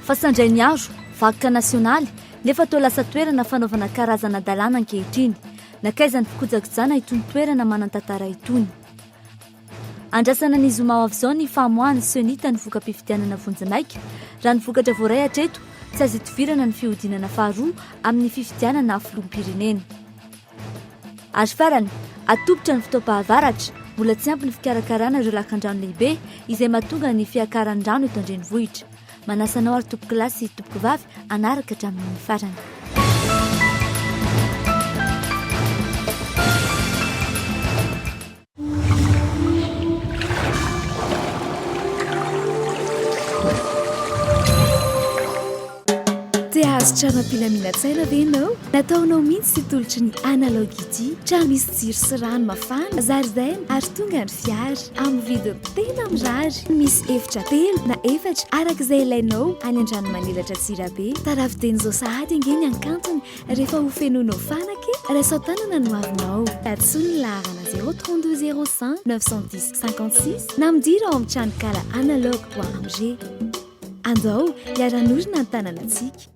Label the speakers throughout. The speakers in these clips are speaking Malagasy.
Speaker 1: Fa sandray niaro, vakoka nasionaly, nefa toa lasa toerana fanaovana karazana dalàna ankehitriny. Nakaizan'ny fikojakojana itony toerana manan-tantara itony. Andrasana ny zoma ho avy izao ny famoahan'ny Cenita ny voka-pifidianana vonjimaika. Raha ny vokatra voaray hatreto, tsy azo itovirana ny fihodinana faharoa amin'ny fifidianana filoham-pirenena. Ary farany, atolotra ny fotoam-pahavaratra, mbola tsy ampy ny fikarakarana ireo lakandrano lehibe izay mahatonga ny fiakaran'ny rano eto an-drenivohitra. Manasa anao ary tompokolahy sy tompokovavy hanaraka hatramin'ny farany.
Speaker 2: Te hahazo trano am-pilaminantsaina ve ianao? Nataonao mihitsy sy tolotry ny Analog ity. Trano misy jiro sy rano mafana, zaridaina ary tonga ny fiara. Amin'ny vidiny tena mirary. Misy efitra telo na efatra araka izay ilainao any Andranomanelatra Antsirabe. Tarafiden'izao sahady ange ny hankantony. Rehefa ho fenoinao fanaka e! Raiso an-tanana ny hoavinao. Tadiso ny laharana 032 05 910 56 na midira ao amin'ny tranonkala Analogue Bois Angers. Andao hiara-hanorina ny tanànantsika.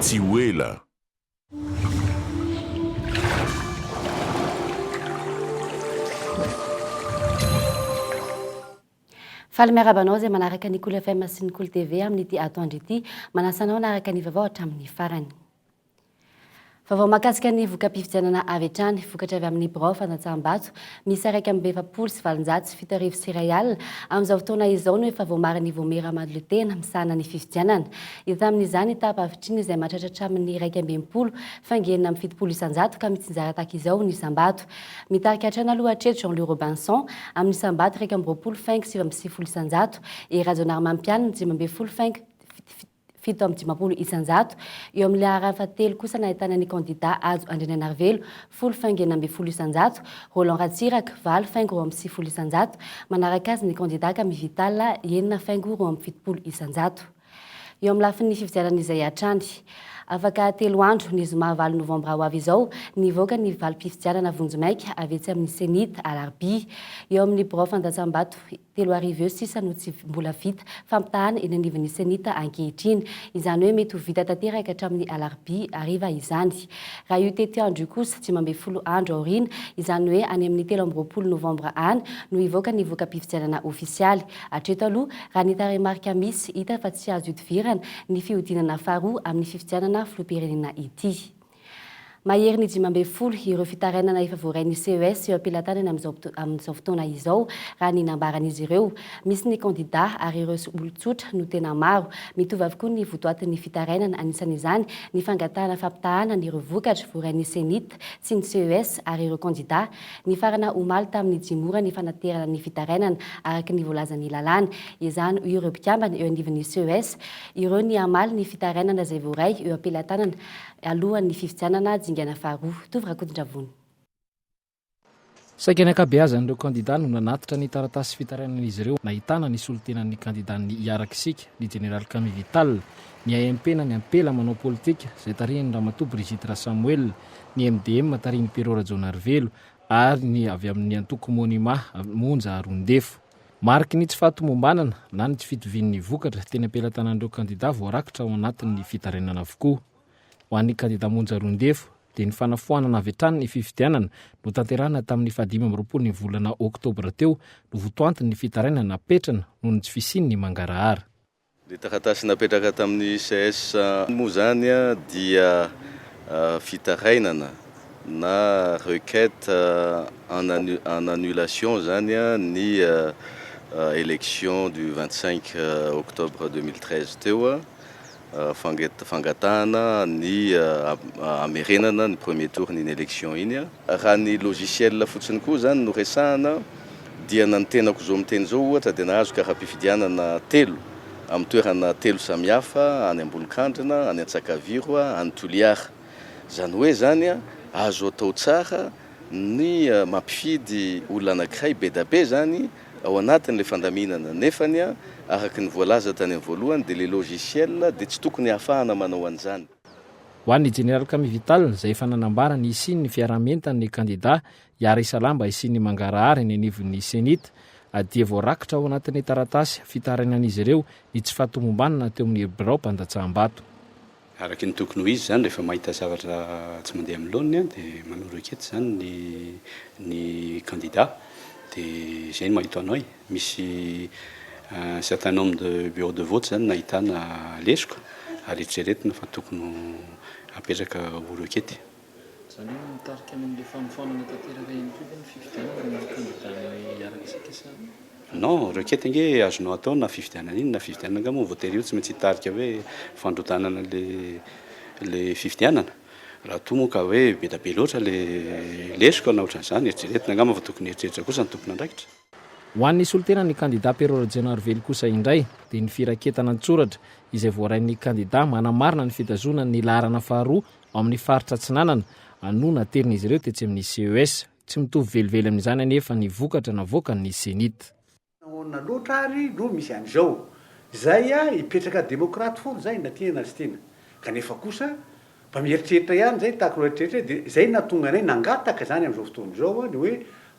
Speaker 3: Tsy ho ela.
Speaker 4: Faly miarahaba anao izay manaraka ny Cool FM sy ny Cool TV amin'ity atoandro ity. Manasa anao hanaraka ny vaovao hatramin'ny farany. Vaovao mahakasika ny voka-pifidianana avy hatrany, vokatra avy amin'ny birao fandatsaham-bato miisa iraika amby efapolo sy valonjato sy fito arivo sy iray alina. Amin'izao fotoana izao no efa voamarin'i Vomey Ramalolitena misahana ny fifidianana. Hita amin'izany taha pavitriny izay mahatratra hatramin'ny iraika amby enimpolo faingo enina amby fitopolo isan-jato ka mitsinjara tahaka izao ny isam-bato. Mitarika hatrany aloha hatreto Jean-Louis Robinson amin'ny isam-bato iraika amby roapolo faingo sivy amby sivifolo isan-jato, Hery Rajaonarimampianina dimy ambin'ny folo faingo fito amby dimampolo isanjato. Eo amin'ny laharany fahatelo kosa no ahitana ny kandida Hajo Andrianainarivelo, folo faingo enina ambin'ny folo isanjato, Roland Ratsiraka, valo faingo roa amby sivifolo isanjato, manaraka azy ny kandida Kami Vital, enina faingo roa amby fitopolo isanjato. Eo amin'ny lafiny fifidianana izay hatrany. Afaka telo andro, ny zoma valo novambra ho avy izao, ny hivoaka ny valim-pifidianana vonjimaika avy etsy amin'ny Cenit, Alarobia. Eo amin'ny birao fandatsambato. Telo arivo eo sisa no tsy mbola vita fampitahana eny anivon'ny Cenit ankehitriny. Izany hoe mety ho vita tanteraka hatramin'ny alarobia hariva izany. Raha io tetiandro io kosa, dimy ambin'ny folo andro aoriana, izany hoe any amin'ny telo amby roapolo novambra any, no hivoaka ny voka-pifidianana ofisialy. Hatreto aloha, raha ny tarehimarika misy, hita fa tsy azo ihodivirana ny fihodinana faharoa amin'ny fifidianana filoham-pirenena ity. Maherin'ny dimy ambin'ny folo ireo fitarainana efa voarain'ny ces eo am-pelatanana amin'izao amin'izao fotoana izao, raha ny nambaran'izy ireo. Misy ny kandidà ary ireo olon-tsotra no tena maro. Mitovy avokoa ny votoatin'ny fitarainana, anisan'izany ny fangatahana fampitahàna an'ireo vokatra voarain'ny CENIT sy ny ces ary ireo kandidà. Nifarana omaly tamin'ny dimy ora ny fanaterana ny fitarainana, araka ny voalazan'ny lalàna. Ezahany ho ireo mpikambana eo anivon'ny ces ireo ny hamaly ny fitarainana izay voaray eo am-pelatanana alohan'ny fifidianana dingana faharoa. Tovo Rakotondravony.
Speaker 5: Saika ny ankabeazan'ireo kandidà no nanatitra ny taratasy fitarainan'izy ireo nahitana ny solontenan'ny kandidan'ny Hiaraka Isika, ny Jeneraly Kami Vital, ny AMP na ny Ampela manao politika, izay tarihan'i Ramatoa Brigitte Rasamoel, ny MDM tarihin'i Pero Rajaonarivelo ary ny avy amin'ny antoko Monima, Monja Arondefo. Mariky ny tsy fahatomombanana na ny tsy fitovian'ny vokatra teny am-pelatanan'ireo kandidà voarakitra ao anatin'ny fitarainana avokoa. Ho an'ny kandidà Monja Roindefo dia ny fanafoanana avy hatrany ny fifidianana notanterahina tamin'ny fahadimy amby roapolo ny volana oktobra teo no votoantin'ny fitarainana napetrany noho ny tsy fisian'ny mangarahara. Ilay taratasy
Speaker 6: napetraka tamin'ny ces moa izany dia fitarainana na requête en en annulation izany ny élection du vingt cinq octobre deux mille treize teo, fanget- fangatahana ny hamerenana ny premier tour-n'iny élection iny. Raha ny logiciel fotsiny koa izany no resahana. Dia na ny tenako izao miteny izao ohatra dia nahazo kara-pifidianana telo amin'ny toerana telo samihafa any Ambolokandrina, any Antsakaviro, any Toliara. Izany hoe izany azo atao tsara ny mampifidy olona anankiray bedabe izany ao anatin'ilay fandaminana nefany araka ny voalaza tany amin'ny voalohany dia ilay logiciel dia tsy tokony ahafahana manao an'izany. Ho an'ny
Speaker 5: Jeneraly Kami Vital izay efa nanambara ny hisian'ny fiaraha-mientan'ny kandida Yari Salamba hisian'ny mangarahara eny anivon'ny Cenit dia voarakitra ao anatin'ny taratasy fitarainan'izy ireo ny tsy fahatomombanana teo amin'ny birao mpandatsaham-bato. Araka ny
Speaker 7: tokony ho izy izany, rehefa mahita zavatra tsy mandeha amin'ny laoniny dia manoro eketsy izany ny ny kandida, dia izay no mahita anao e! Misy un certain nombre de bureaux de vote izany no nahitana lesoka ary eritreretina fa tokony ho apetraka oro ekety. Izany hoe
Speaker 5: mitarika any amin'ilay fanofanana tanteraka ihany koa ve ny fifidianana ny kandida amin'ny araka
Speaker 7: isika sa. Non, requête ange azonao atao na fifidianana iny na fifidianana angaha moa voatery io tsy maintsy hitarika hoe fandrodanana ilay fifidianana? Raha toa moa ka hoe be dia be loatra ilay lesoka na ohatran'izany, eritreretina angamba fa tokony hieritreritra kosa ny tompon'andraikitra. Ho an'ny
Speaker 5: solontenan'ny kandida Pero Rajaonarivelo kosa indray dia ny firaketana an-tsoratra izay voarain'ny kandida manamarina ny fitazonany ny laharana faharoa Ao amin'ny faritra Atsinanana, a, no naterin'izy ireo tetsy amin'ny CES. Tsy mitovy velively amin'izany anefa ny vokatra navoakan'ny CENIT. Nahoana loatra
Speaker 8: ary no misy an'izao? Zay a, hipetraka demokraty foana zay na tia na tsy tia. Kanefa kosa, mba mieritreritra ihany zay tahaka ireo rehetra rehetra dia zay nahatonga anay nangataka zany amin'izao fotoana izao a, ny hoe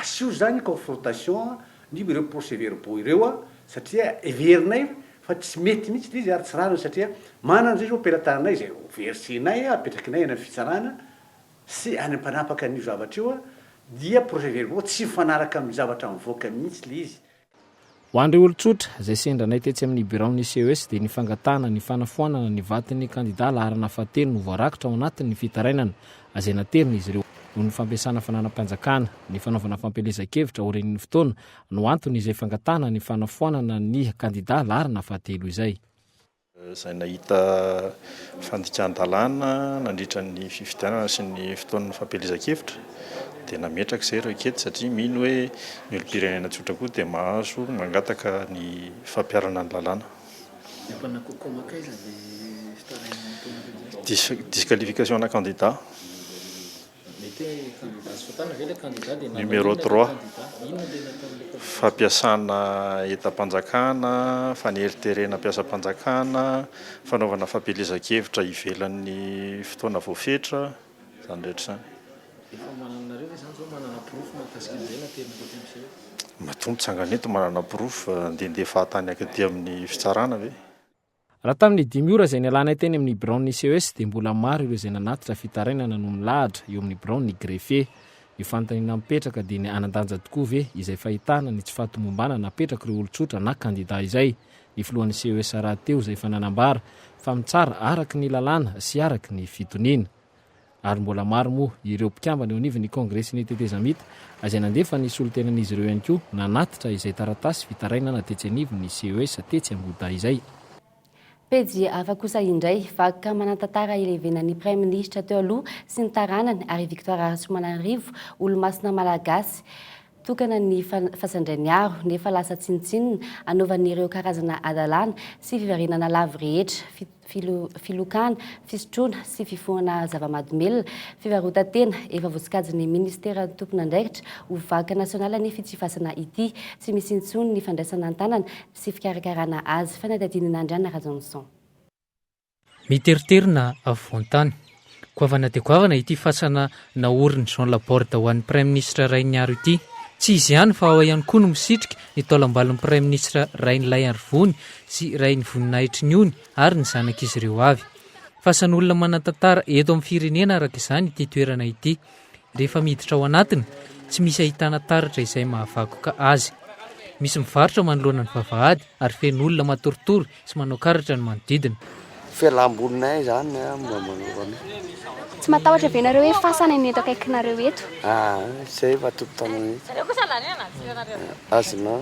Speaker 8: asio zany confrontation ny ireo procès-verbaux ireo a, satria heverinay fa tsy mety mihitsy ilay izy ary tsy rariny satria manana izay izao pelataranay izay ho verisinay apetrakinay any amin'ny fitsarana sy any mpanapaka an'io zavatra io dia procès verbaux tsy mifanaraka amin'ny zavatra mivoaka mihitsy ilay izy Ho an'ireo
Speaker 5: olon-tsotra, izay sendra anay tetsy amin'ny biraon'ny CES dia ny fangatahana ny fanafoanana ny vaton'ny kandidà laharana fahatelo no voarakitra ao anatin'ny fitarainana izay naterin'izy ireo noho ny fampiasana fananam-panjakana ny fanaovana fampielezan-kevitra aorian'ny fotoana no antony izay fangatahana ny fanafoanana ny kandida laharana fahatelo izay. izay
Speaker 9: nahita fandikan-dalàna nandritra ny fifidianana sy ny fotoan'ny fampielezan-kevitra dia nametraka izay ireo kety satria mino hoe ny olom-pirenena tsotra koa dia mahazo mangataka ny fampiharana ny lalàna. Disqualification ana kandida. Numéro trois, fampiasana entam-panjakana, faneriterena mpiasam-panjakana, fanaovana fampielezan-kevitra ivelan'ny fotoana voafetra, izany rehetra izany. Efa manana nareo ve izany zao manana porofo mahakasika an'izay na tena mety ampiseho? Matoa mitsangana eto manana porofo fa andehandeha fahatany akaty amin'ny fitsarana ve? Raha tamin'ny
Speaker 5: dimy ora izay nialanay teny amin'ny biraon'ny CES dia mbola maro ireo izay nanatitra fitarainana no milahatra eo amin'ny biraon'ny greffe. Ny fanontaniana mipetraka dia ny hanan-danja tokoa ve izay fahitana ny tsy fahatomombanana apetrak'ireo olon-tsotra na kandida izay? Ny filohan'ny CES rahateo izay efa nanambara fa mitsara araka ny lalàna sy araka ny fitoniana. ary mbola maro moa ireo mpikambana eo anivon'ny Kongresin'ny Tetezamita izay nandefa ny solontenan'izy ireo ihany koa nanatitra izay taratasy fitarainana tetsy anivon'ny CES tetsy Angoda izay. Pejy
Speaker 4: hafa kosa indray, vakoka manan-tantara ilevenan'ny Praiminisitra teo aloha sy ny taranany ary Victoire Rasoamananarivo, olomasina malagasy tokanan'ny Fasandrainiaro nefa lasa tsinontsinona anaovan'ireo karazana hadalana sy fiverenana lavo rehetra, filokana, fisotroana sy fifohana zava-mahadomelina, fivarotan-tena, efa voasokajin'ny minisiteran'ny tompon'andraikitra ho vakoka nasionaly anefa ity fasana ity. Tsy misy intsony ny fandraisana an-tanana sy fikarakarana azy. Fanadihadian'i Nandriana Rajaonison. Miteriterina
Speaker 10: afovoan-tany Goavana dia goavana ity fasana naorin'i Jean Laborde ho an'ny Praiminisitra Rainiaro ity. Tsy izy ihany fa ao ihany koa no misitrika ny taolambalon'ny Praiminisitra Rainilaiarivony sy Rainivoninaitry ny ony ary ny zanak'izy ireo avy. Fasan'olona manan-tantara eto amin'ny firenena araka izany ity toerana ity. Rehefa miditra ao anatiny, tsy misy ahitana taratra izay mahavakoka azy. Misy mivarotra manoloana ny vavahady ary feno olona matoritory sy manao karatra ny manodidina. Fialambolinay
Speaker 11: izany an mba manaova.
Speaker 12: Tsy matahotra ve nareo hoe fasana ny eto akaikinareo eto? Aa, izay efa
Speaker 11: tompon-tanana eto. Azonao.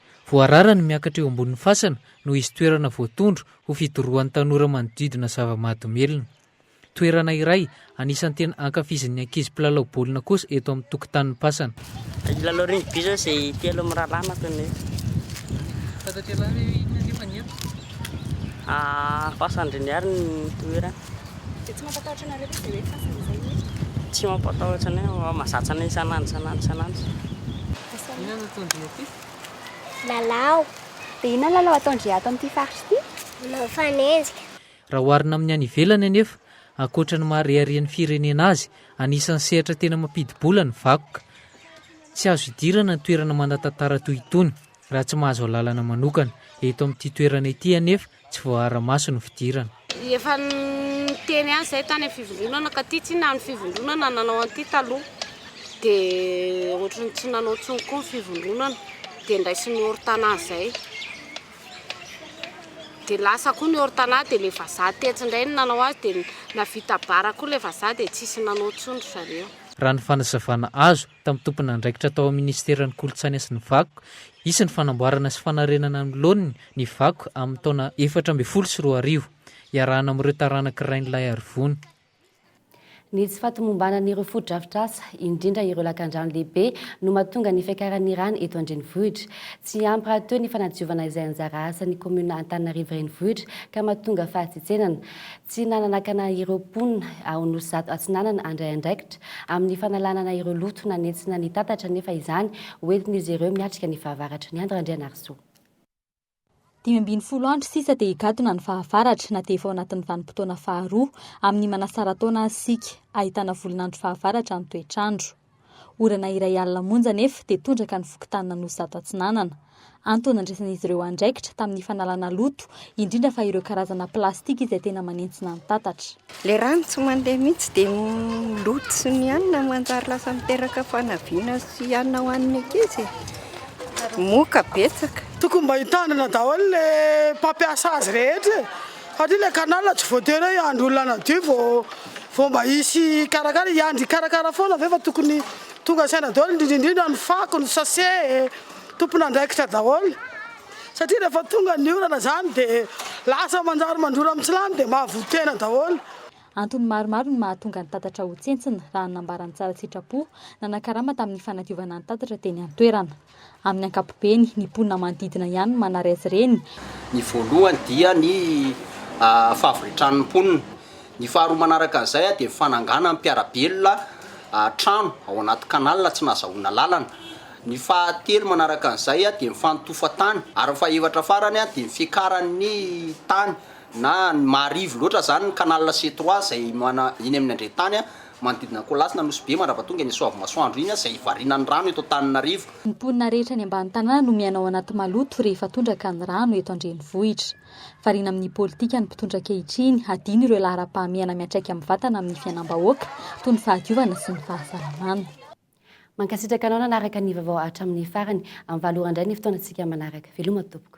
Speaker 10: Voarara ny miakatra eo ambonin'ny fasana no hisy toerana voatondro ho fidorohan'ny tanora manodidina zava-mahadomelina. Toerana iray anisan'ny tena ankafizin'ny ankizy mpilalao baolina kosa eto amin'ny tokotanin'ny pasana. Hilalao rugby
Speaker 13: izao izay telo amin'ny rahalanako no eto. Tantatialahy hoe inona anefa ny eto? Pasandriniary ny toerana. Dia tsy mampatahotra
Speaker 12: anareo ve izay hoe fasana izay no eto? Tsy
Speaker 13: mampatahotra anay, mazàtsy anay isan'andro isan'andro isan'andro.
Speaker 12: Inona no ataon-dry aty? Lalao. Dia inona ny lalao ataon-dry ato amin'ity faritra ity? Manao fanenjika. Raha oharina
Speaker 10: amin'ny any ivelany anefa, ankoatra ny maha reharehan'ny firenena azy, anisan'ny sehatra tena mampidi-bola ny vakoka. Tsy azo idirana ny toerana manan-tantara toy itony, raha tsy mahazo alalana manokana. Eto amin'ity toerana ity anefa, tsy voaara-maso ny fidirana. Efa
Speaker 14: niteny azy izay tany amin'ny fivondronana ka ity tsinona ny fivondronana nanao an'ity taloha dia ohatran'ny tsy nanao intsony koa ny fivondronana dia ndraisin'ny ortana izay dia lasa koa ny ortana dia ilay vazaha tetsy indray ny nanao azy dia navita bara koa ilay vazaha dia tsisy nanao intsony ry zareo. Raha ny fanazavana
Speaker 10: azo tamin'ny tomponandraikitra tao amin'ny minisiteran'ny Kolontsaina sy ny Vakoka, hisy ny fanamboarana sy fanarenana ny laoniny ny vakoka amin'ny taona efatra ambin'ny folo sy roa arivo, iarahana amin'ireo taranak'i Rainilaiarivony.
Speaker 4: Ny tsy fahatomombanan'ireo fotodrafitrasa, indrindra ireo lakandrano lehibe, no mahatonga ny fiakaran'ny rano eto an-drenivohitra. Tsy ampy rahateo ny fanadiovana izay anjara asan'ny kaominina Antananarivo Renivohitra ka mahatonga fahatsitsenana. Tsy nananakana ireo mponina ao Nosizato Atsinanana handray andraikitra amin'ny fanalanana ireo loto nanentsina ny tatatra nefa izany ho entin'izy ireo miatrika ny fahavaratra ny Andry Randrianarisoa. Dimy ambin'ny
Speaker 1: folo andro sisa dia higadona ny fahavaratra na dia efa ao anatin'ny vanim-potoana faharoa amin'ny manasara-taona aza isika, ahitana volon'andro fahavaratra ny toetr'andro. Orana iray alina monja anefa dia tondraka ny fokontany Nanohizata Atsinanana. Antony nandraisan'izy ireo andraikitra tamin'ny fanalana loto, indrindra fa ireo karazana plastika izay tena manentsina ny tatatra. Ilay rano tsy
Speaker 15: mandeha mihitsy dia ny loto sy ny hanina no manjary lasa miteraka fanaviana sy hanina ho an'ny ankizy e. Moka betsaka. Tokony mba hitanana
Speaker 16: daholo le mpampiasa azy rehetra e. Satria ilay canal tsy voatery hoe hiandry olona hanadio vao vao mba hisy hikarakara e, hiandry hikarakara foana ve fa tokony tonga saina daholo indrindra indrindra ny fako, ny sase e, tompon'andraikitra daholo satria rehefa tonga ny orana izany dia lasa manjary mandrora amin'ny tsilany dia mahavoa-tena daholo. Antony maromaro
Speaker 1: no mahatonga ny tatatra ho tsentsina raha ny nambaran'ny tsara sitrapo nanakarama tamin'ny fanadiovana ny tatatra teny an-toerana. Amin'ny ankapobeny, ny mponina manodidina ihany no manary azy ireny. Ny voalohany
Speaker 17: dia ny fahavitran'ny mponina. Ny faharoa manaraka an'izay dia ny fananganan'ny mpiara-belona trano ao anaty canal tsy nahazahoana lalana. Ny fahatelo manaraka an'izay dia ny fanotofan-tany. Ary ny fahefatra farany dia ny fiakaran'ny tany na ny maharivo loatra izany ny canal C3 izay eny amin'ny andren-tany Manodidina ny Kolasy na Nosy Be mandrava tonga iny Soavimasoandro iny izay hivarinan'ny rano eto Antaninarivo. Ny mponina rehetra any
Speaker 1: ambany tanàna no mihaino ao anaty maloto rehefa tondraka ny rano eto an-drenivohitra. Variana amin'ny politika ny mpitondra ankehitriny hadino ireo laharam-pahamehana miantraika amin'ny vatana amin'ny fiainam-bahoaka toy ny fahadiovana sy ny fahasalamana.
Speaker 4: Mankasitraka anao nanaraka ny vaovao hatramin'ny farany. Amin'ny valo ora indray ny fotoanantsika manaraka. Veloma tompoko.